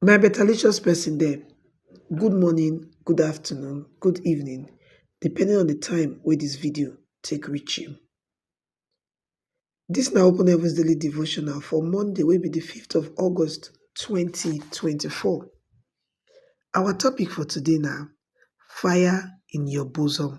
My betalicious person dem, good morning, good afternoon, good evening depending on di time wey dis video take reach you. Dis na open heavens daily devotional for Monday wey be di fifth of August twenty twenty four. Our topic for today na fire in your bosom.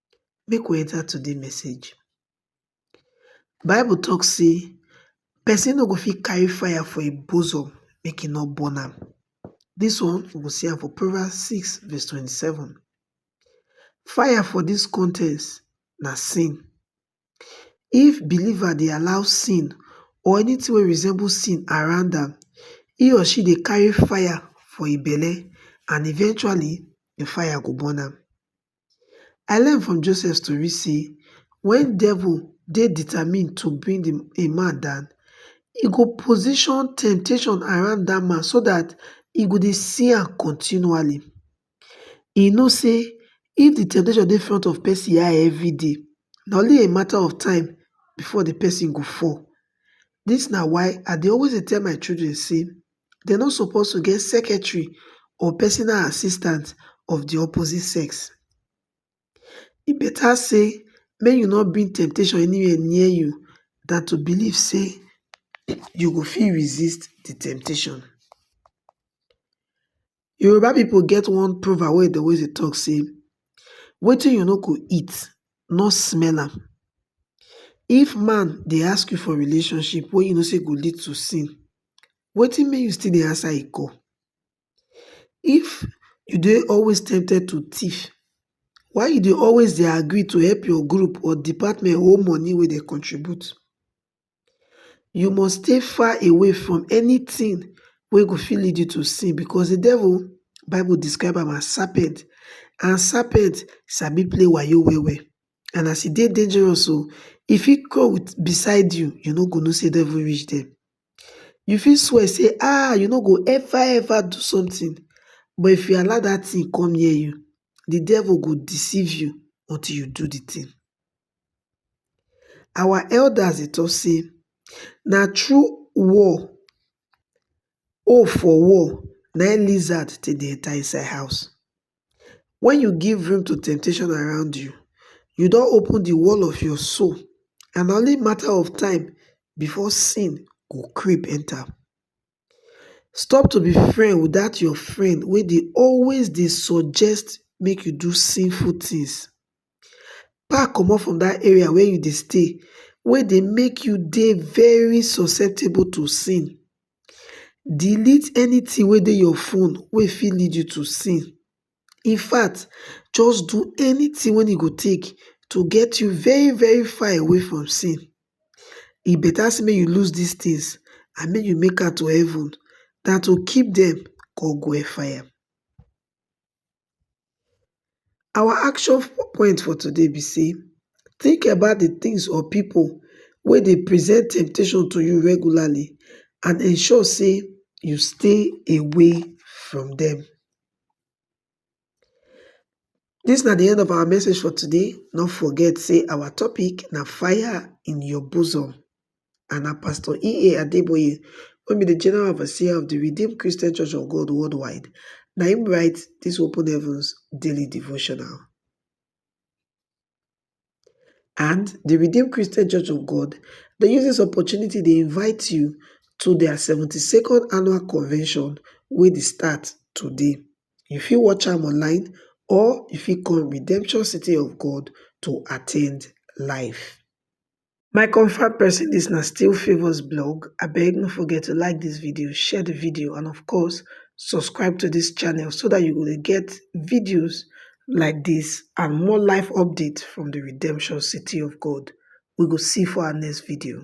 make we enter today message. Bible talk say person no go fit carry fire for im bosom make e no burn am. This one we go see am for Proverbs 6 verse 27. Fire for this context na sin. If believer dey allow sin or anything wey resemble sin around am, he or she dey carry fire for im belle and eventually the fire go burn am. i learn from joseph story sey wen devil dey determined to bring a man down, e go position temptation around dat man so dat e go dey see am continually. E know sey if de temptation dey front of pesin eye everyday, na only a matter of time before de pesin go fall. Dis na why i dey always dey tell my children sey dem no suppose to get secretary or personal assistant of di opposite sex. E beta sey make you no bring temptation anywhere near you dan to believe sey you go fit resist di temptation. Yoruba people get one proverb wey dey always dey talk say wetin you no go eat no smell am. If man dey ask you for relationship wey you know say go lead to sin wetin make you still dey answer e call. If you dey always tempted to thief why you dey always dey agree to help your group or department hold money wey dem contribute. you must stay far away from anything wey go fit lead you to sin because the devil bible describe am as serpent and serpent sabi play wayo well well and as e dey dangerous so e fit crawl with beside you you no go know say devil reach there you fit swear say ah you no go ever ever do something but if you allow that thing come near you the devil go deceive you until you do the thing our elders dey talk say na through wall hole for wall na im lizard take dey enter inside house. When you give room to temptation around you, you don open the wall of your soul and na only matter of time before sin go creep enter. Stop to be friend with dat your friend wey dey always dey suggest make you do sinful things. pack comot from that area wey you dey stay wey dey make you dey very susceptible to sin. Delete anything wey dey your phone wey fit lead you to sin. In fact, just do anything wey e go take to get you very very far away from sin. E better say make you lose these things and make you make am to heaven than to keep dem come go hellfire. Our action point for today be sey, tink about di tins or pipu wey dey present temptation to you regularly and ensure sey you stay away from dem. Dis na di end of our message for today, no forget sey our topic na fire in your bosom. and na Pastor EA Adeboye wey be di General Overseer of di Redeemed Christian Church of God Worldwide na im write dis Open Heavens daily devotional. And di Redeemed Christian Church of God dey use dis opportunity dey invite you to their seventy second annual convention wey dey start today. You fit watch am online or you fit come Redemption City of God to attend live. my confam pesin dis na still favours blog abeg no forget to like dis video share di video and of course subscribe to dis channel so dat you go dey get videos like dis and more life update from di redemption city of god we go see for our next video